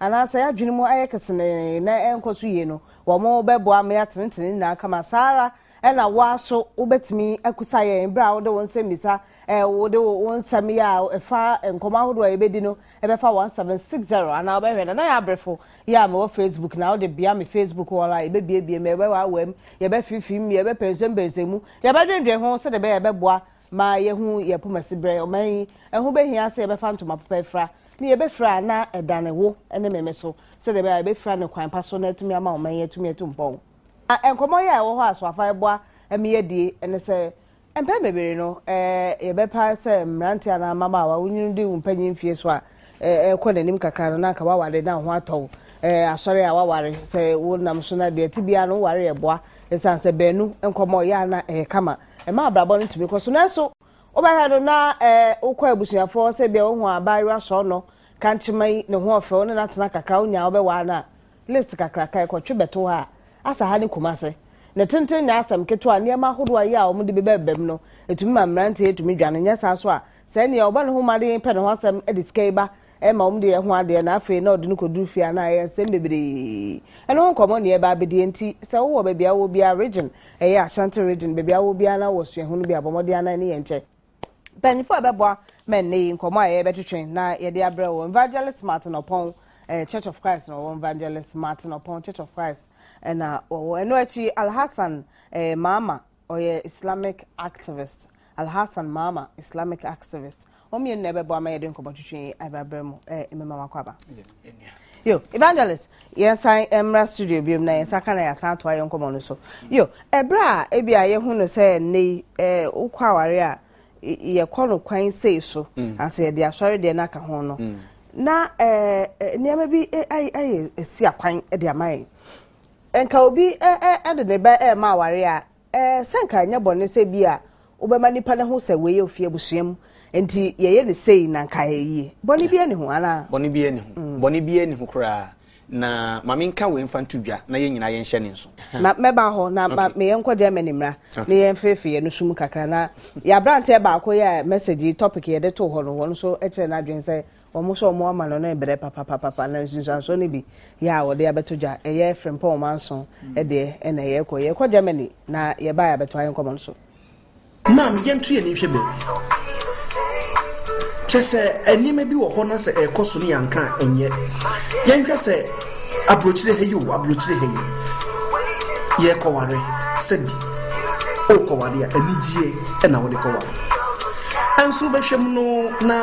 anaasɛ yɛn adwene mu ayɛ kesenee na ɛnkɔ so yie no, wɔbɛboa ma yɛatenetene ne nyinaa kama. Saa ara na wo ara nso wobɛtumi akusa yɛn berɛ a wode wo nsɛmmisa, wode wo nsɛmmea a ɛfa nkɔmmɔ ahodoɔ a yɛbɛdi no bɛfa 1760 anaa wobɛhwɛ Nana Yaa Abrefo yi a mewɔ Facebook na wode bea me Facebook wall a yɛbɛbiebie mu, yɛbɛwaawaam, yɛbɛfimfim mu, yɛbɛpɛnsɛmpɛnsɛm mu, yɛbɛdwendwen ho sɛdeɛ ɛbɛyɛ a ɛbɛboa ma yɛahu yɛn poma asiberɛ. Ɔman yi, ɛho bɛhia sɛ yɛbɛfa ntoma papa afira, ne yɛbɛfira a na ɛdane wo ne meme so, sɛdeɛ ɛbɛyɛ a yɛbɛfira no kwan pa so na atumi ama ɔman yi atumi atu mpɔn. Na nkɔmmɔ yi a ɛwɔ hɔ a Soafa reboa me adie ne sɛ, mpɛn bebree no, yɛbɛpa sɛ mmeranteɛ anaa mmabaawa, wonwunu de wo mpanyin mfeɛ so a ɛrekɔ n'anim kakra no, na anka woaware na wo ho atɔ wo. Asɔre a woaware, sɛ wonam so na deɛ ɛte biara no, woware yɛ boa, ɛsiane sɛ baanu nkɔmmɔ yɛ a na ɛyɛ kama. Ɛma abrabɔ no tumi kɔ so. Nanso, wobɛhwɛ no na wokɔ abusuafo hɔ, sɛ ebia wohu abaayewa sɔɔnɔ, kankyema yi, ne ho ɔfɛ, wo ne no atena kakra a, wonya a wobɛware no a, list kakraka a ɛkɔtwe bɛto hɔ a, asa ha ne Kumasi. Ne tenten nyɛ asɛm ketewa. Nneɛma ahodoɔ a ɛyɛ a wɔde bɛbɛbam no, ɛtumi ma mmeranteɛ tumi dwane. Nyɛ saa nso a, sɛnea ɔbɔ ne ho mmɔden pɛ ne ho asɛm de sika yi ba Ɛma wɔn de yɛ ho adeɛ na afei na ɔde no kɔduru fie a na ayɛ nsɛm bebree. Ɛno ho nkɔmmɔ ne yɛreba abɛdi. Enti sɛ wowɔ baabi a wowɔ biara, region, ɛyɛ Ashanti region, baabi a wowɔ biara na wowɔ suahunu bi a, bɔ mmɔden ara na ne yɛn kyɛ. Mpanyimfoɔ a ɛbɛboa ma nnɛ yi nkɔmmɔ a yɛrebɛtwetwe na yɛde abrɛ wo, Evangelist Martin Opong, ɛyɛ Church of Christ na ɔwɔ, Evangelist Martin Opong, Church of Christ na ɔwɔ. Ɛno akyi, Alhassan, ɛyɛ Maama, Ɔyɛ Islamic activist, Alhassan Maama, Islamic activist. Wɔn mmienu na ɛbɛboa ma yɛde nkɔmmɔtwitwi yi abrabra mu ɛɛ mmema mu akɔ aba. Yo, evangelist, yɛn san mmra studio biom na yɛn san ka na yɛn san atoa yɛn nkɔmmɔ no so. Yo, ɛbrɛ a ebi a yɛhu no sɛ nnɛ yi ɛɛ wokɔ aware a yɛkɔ no kwan sei so mm. ansa yɛde asɔre deɛ no aka ho no mm. na ɛɛ nneɛma bi ayɛ esi akwan de ama yɛn. Nka obi de ne ba rema aware a, sɛ anka ɛnyɛ bɔne sɛ ebia wobɛma nipa no ahu sɛ wei yɛ ofi abusua mu, enti yɛyɛ no sei na anka ayɛ yie. Bɔne biara nni ho, anaa? Bɔne biara nni ho. Bɔne biara nni ho koraa. Na ma menka wei mfa nto dwa na yɛn nyinaa yɛnhyɛ no nso. Na mɛba hɔ, na ma me yɛnkɔ Germany mmra na yɛmfeefee yɛn nso mu kakra. Na yɛn aberanteɛ baako yɛɛ message yi, topic a yɛde too hɔ no, ɔno nso kyerɛɛ n'adwene sɛ Wɔn sɛ wɔn ama no no rebrɛ papapapapa na nsunsuansoɔ no bi yɛ a wɔde abɛto dwa. Ɛyɛ Frimpong manson deɛ na yɛrekɔ. Yɛrekɔ Germany na yɛbaeɛ a bɛtoa yɛn nkɔmmɔ no so. Maame, yɛnto yɛn ani nhwɛ baabi. Kyɛ sɛ nneɛma bi wɔ hɔ na sɛ ɛrekɔ so no yɛanka a ɛnyɛ. Yɛnhwɛ sɛ aburokyire ha yi o, aburokyire ha yi yɛrekɔware. Sɛbi worekɔware a anigyeɛ na wode kɔware. Nso wobɛhwɛ mu no, na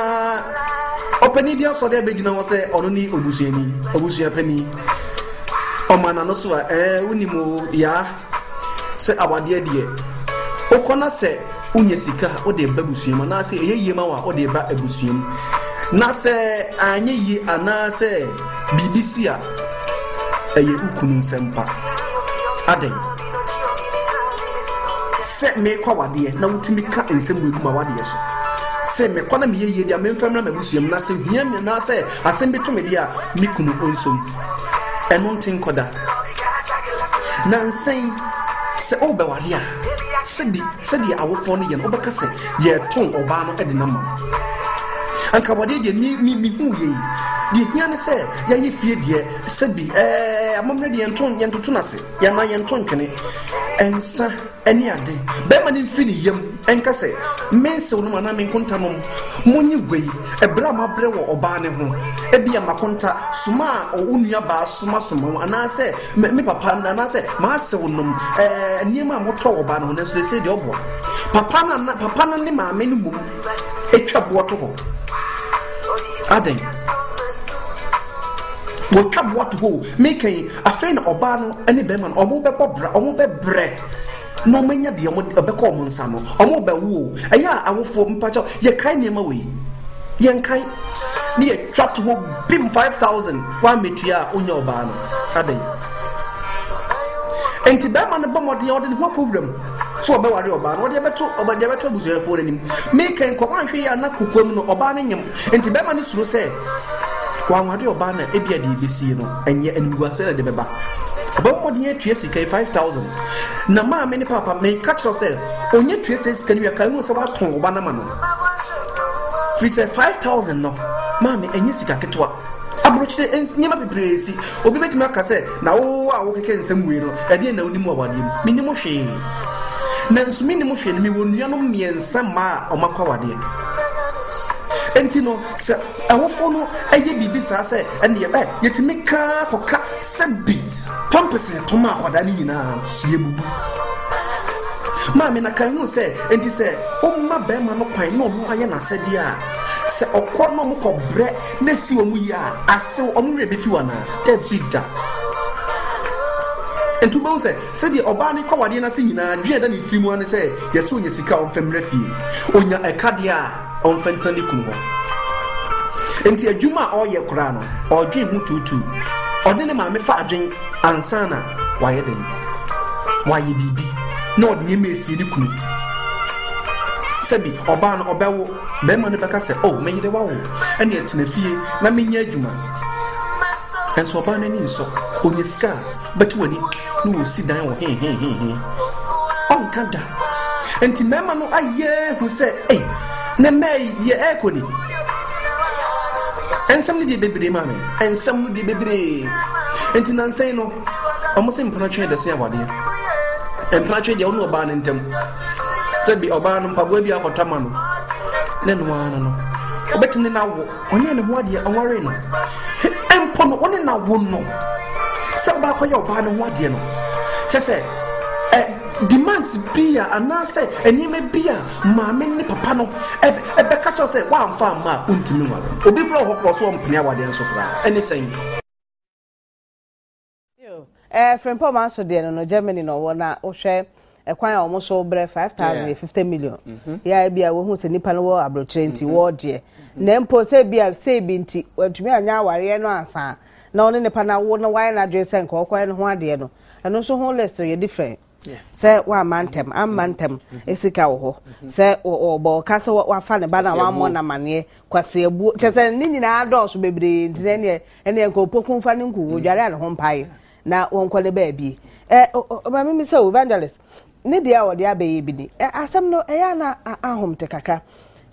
ɔpanin bi asɔre abɛgyina hɔ sɛ ɔno ne obusuani, obusua panin. Ɔma n'ano so a, ɛɛ, wonim o, yaa, sɛ awadeɛ deɛ, wokɔ na sɛ wonya sika a, wode ba busuam, anaasɛ ɛyɛ yie ma wo a, wode ba abusuam. Na sɛ anyɛ yie anaasɛ biribi si a, ɛyɛ wo kunu nsɛmpa. Adɛn? Sɛ merekɔ awadeɛ na wotumi ka nsɛm wei gu m'awadeɛ so. Se mekɔ na meyɛ yie deɛ a memfa mmra m'abusua mu na se hia mi anaasɛ asɛm bi to me deɛ a me kunu ɔnsɔ mu. Ɛno nte nkɔ da. Nansa yi sɛ worebɛware a sɛbi sɛdeɛ awofoɔ no yɛ no wobɛka sɛ yɛretɔn ɔbaa no de no ama wo. Anka awadeɛ deɛ me me mehu yɛ yi deɛ hia ne sɛ yɛayɛ fie deɛ sɛbi ɛɛ amammerɛ deɛ yɛnto yɛntoto no ase. Yɛmma yɛnto ntwene, nsã ne ade. Barima no mfiri ne yam nka sɛ, Me nsew nom anaa me nkonta nom. Monyi gua yi, bere a moabrɛ wɔ ɔbaa no ho. Ebia m'akonta soma a wo nuabaa soma soma wo, anaasɛ me papa anaasɛ m'asew nom eh, nneɛma a motɔ wɔ ɔbaa no ho, nanso seesei deɛ ɔboa. Papa no, ana, papa no ne maame no mmom twa boɔ to hɔ. Adɛn? Wɔtwa boɔ to hɔ o. Meka yi, Afei na ɔbaa no ne bɛrima no ɔmo bɛbɔ bra ɔmo bɛbrɛ na ɔmo anya deɛ ɔmo ɛbɛkɔ ɔmo nsa no ɔmo bɛwo o ɛyɛ a awofo mpakyɛw yɛkae nneɛma wei yɛnkae ne yɛtwa to hɔ bim 5000 woamɛtua a wonya ɔbaa no adɛn nti bɛrima no bɔ mmɔden ɔde ne ho akɔ wuram so ɔbɛware ɔbaa no ɔde ɛbɛto ɔbɛde ɛbɛto abusuafoɔ no anim meka nkɔmɔ anhwɛ yɛ ana kokoam no ɔbaa no nyem nti bɛrima no suro sɛ Wanwa deɛ ɔbaa na ebi a deɛ ebesie no ɛnyɛ animguasɛ na ɛde bɛba. Ɔbɛbɔ mmɔden atua sika yi five thousand na maame ne papa meka kyerɛ sɛ onye tua sɛ sika no wia kan hu sɛ watɔn ɔba no ma no firi sɛ five thousand no maame ɛnyɛ sika ketewa aburokyire nneɛma bebree si obi betumi aka sɛ na wo a wokeke nsɛm wei no ɛdeɛ na wonim awadeɛ mu menim hwee na nso menim hwee no mewɔ nuanom mmiɛnsa mmaa a wɔakɔ awadeɛ nti no Sɛ awofo no yɛ biribi saa sɛ ɛnneɛ ɛ, yɛtumi ka ara kɔka sɛ bi pampese yɛtɔ ma akwadaa no nyinaa no, yɛbubu. Maame na kan hunu sɛ enti sɛ ɔma bɛrima no kwan na ɔno ayɛ n'asɛdeɛ a, sɛ ɔkɔ na ɔmokɔ brɛ na ɛsi wɔn yie a, asew ɔmo werɛ bɛfi wo anaa? Dabi da. Nti wobɛhu sɛ sɛdeɛ ɔbaa no kɔ wadeɛ no ase nyinaa, adwene a ɛda ne tiri mu ara ne sɛ yɛsɛ ɔnya sika a ɔmfa mmra fie. Ɔnya ɛka deɛ a, ɔmfa ntena ne kunu hɔ. Enti adwuma a ɔreyɛ koraa no, ɔredwen ho tuutuu. Ɔne ne maame fa adwen ansa na wayɛ dɛn? Wayɛ biribi na ɔde nneɛma esie ne kunu. Sɛbi ɔbaa no ɔbɛwo, bɛrima no bɛka sɛ, oh, me yere wawo, ɛnna ɛtena fie na menyɛ adwuma. Nso ɔbaa no ani nsɔ, ɔnya sika a, bɛto w'ani na wɔsi dan wɔ hehehehe ɔnka da nti mmarima no ayɛ hu sɛ ei ne mmaa yi deɛ ɛrekɔ ni nsɛm no deɛ bebree maa me nsɛm no deɛ bebree nti nansɛn no wɔn sɛ mpena twɛn dɛsɛ awadeɛ mpena twɛn deɛ wɔn ɔbaa no ntam sɛ bi ɔbaa no mpaboa bi akɔtɔ ama no ne noa no no wɔbɛtumi ne no awo Ɔnyɛɛ ne ho adeɛ, ɔwaree no. He, mpo no, ɔne na wo no. Sɛ ɔbaakɔyɛ ɔbaa no ho adeɛ no. Kyɛ sɛ, ɛ, demands bi a, anaasɛ nneɛma bi a maame ne papa no ɛbɛka kyɛw sɛ woamfa amma a, wontumi nware. Obi kora wɔ hɔ kora ɔso ɔmpene awadeɛ nso koraa. Ɛne sɛn? Ɛɛ Frimpong maa so deɛ no no Germany na ɔwɔ na wohwɛ ɛkwan a wɔn so brɛ five thousand yɛ fifty million mhm. yɛ ebi a wɔhu sɛ nipa no wɔ aburokyerɛ nti mhm. wɔɔdeɛ mhm. na mpo sɛ ebi a sɛ ebi nti wɔntumi anya awareɛ no ansa na ɔne nipa no awo na wɔayɛ n'adwene sɛ nka ɔkɔɛ no ho adeɛ no ɛno nso ho list yɛ different. sɛ wamma ntɛm amma ntɛm sika wɔ hɔ sɛ ɔbɔ ɔka sɛ wafa ne ba na wammɔ n'amanneɛ kwaseabuo kyɛ sɛ ne nyinaa dɔɔso bebree nti na ɛneɛ ɛneɛ nka ɔpɔku fa ne nku ɔdware a ne ho mpae na wɔnkɔ ne baabi ɛ ɔma mimi sɛ evangelist ne deɛ a wɔde abɛyɛ bi ni asɛm no ɛyɛ na ahom te kakra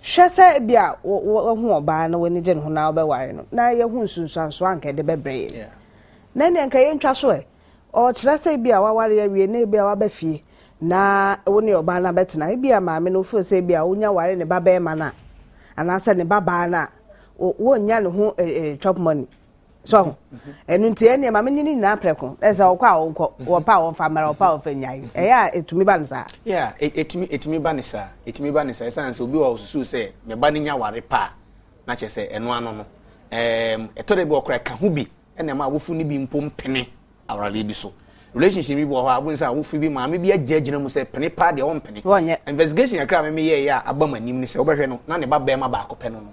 hwɛ sɛ bi a wahu ɔbaa na w'ani gye ne ho na wobɛware no na yɛho nsunsuansoɔ anka ɛde bɛbrɛ yɛ na ɛneɛ nka yɛntwa so ɛ Ɔkyerɛ sɛ ebia w'aware awie na ebia w'aba fie na wo ne ɔbaa no abɛtena. Ebia maame no feel sɛ ebia wonya ware ne ba bɛɛma no a, anaasɛ ne ba baa no a, wɔnnya ne ho eh, eh, chop money. So ho. Ɛno nti ɛneɛ maame ne ne nyinaa prɛko. Ɛsɛ ɔkɔ a ɔnkɔ, wɔpɛ a wɔmfa mmara, wɔpɛ a wɔmfa nnyae. Ɛyɛ a ɛtumi ba no saa. Yeah, ɛtumi, e, ɛtumi ba ne saa. Ɛtumi ba ne saa. Ɛsan sɛ obi wɔ ɔsusu sɛ ne ba no nya ware pa a, na kyerɛ sɛ ɛno ano no. Ɛtɔ da bi ɔkora ka ho bi ɛna ɛma awofo no bi mpo mpene awaradeɛ bi so relationship bi wɔ hɔ a wobɛhu sɛ awofo bi maame bi agyinagyina mu sɛ pene paa deɛ ɔmpene wɔnyɛ investigation kakra a meme yɛeɛ a aba m'anim ne sɛ wobɛhwɛ no na ne ba bɛrima baako pɛ no no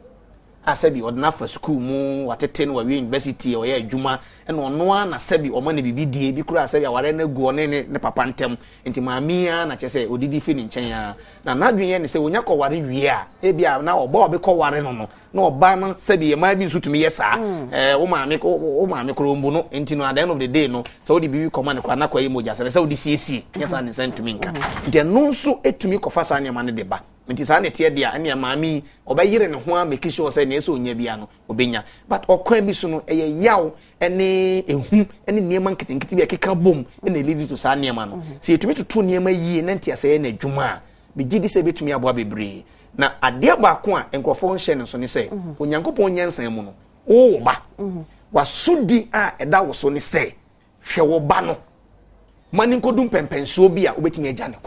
a sɛbi ɔde no afa sukuu mu watete no wawie university ɔyɛ adwuma ɛna ɔno ara na sɛbi ɔma no biribi die bi koraa sɛbi awareɛ no agu ɔne ne ne papa ntam nti maame ara na kyɛ sɛ ɔdidi firi ne nkyɛn ara na n'adwene yɛ ne sɛ ɔnya kɔware wie a ebi a na ɔbɔ a ɔbɛkɔware no no na ɔbaa no sɛbi yɛ maa bi nso tumi yɛ saa ɛɛ wo maame ko wo maame koro mbu no nti no at the end of the day no sɛ wode biribi kɔma no koraa na kɔyɛ mogya sɛ sɛ wode siesie nyɛ saa ne nsa ntumi nka nti ɛno nso ɛtumi kɔfa saa nneɛma no de ba nti saa na ɛteɛ deɛ a ɛneɛ maame yi ɔbɛyere ne ho a make sure sɛ neɛ sɛ ɔnya bia no ɔbɛnya but ɔkwan bi so no ɛyɛ yaw ne ɛhu ne nneɛma nketenkete bi a ɛkeka bom na ɛlidi to saa nneɛma no sɛ yɛtumi toto nneɛma yie na nteasɛ yɛ no adwuma a megye di sɛ ɛbɛtumi aboa bebree Na adeɛ baako a nkurɔfoɔ nhyɛ no nso ne sɛ mhm. Onyankopɔn nyansa mu no wo wo ba mhm. wasodi a ɛda wo so ne sɛ hwɛ wo ba no ma ne nkɔdu mpɛmpɛnsoɔ bi a wobɛtumi agya ne kɔ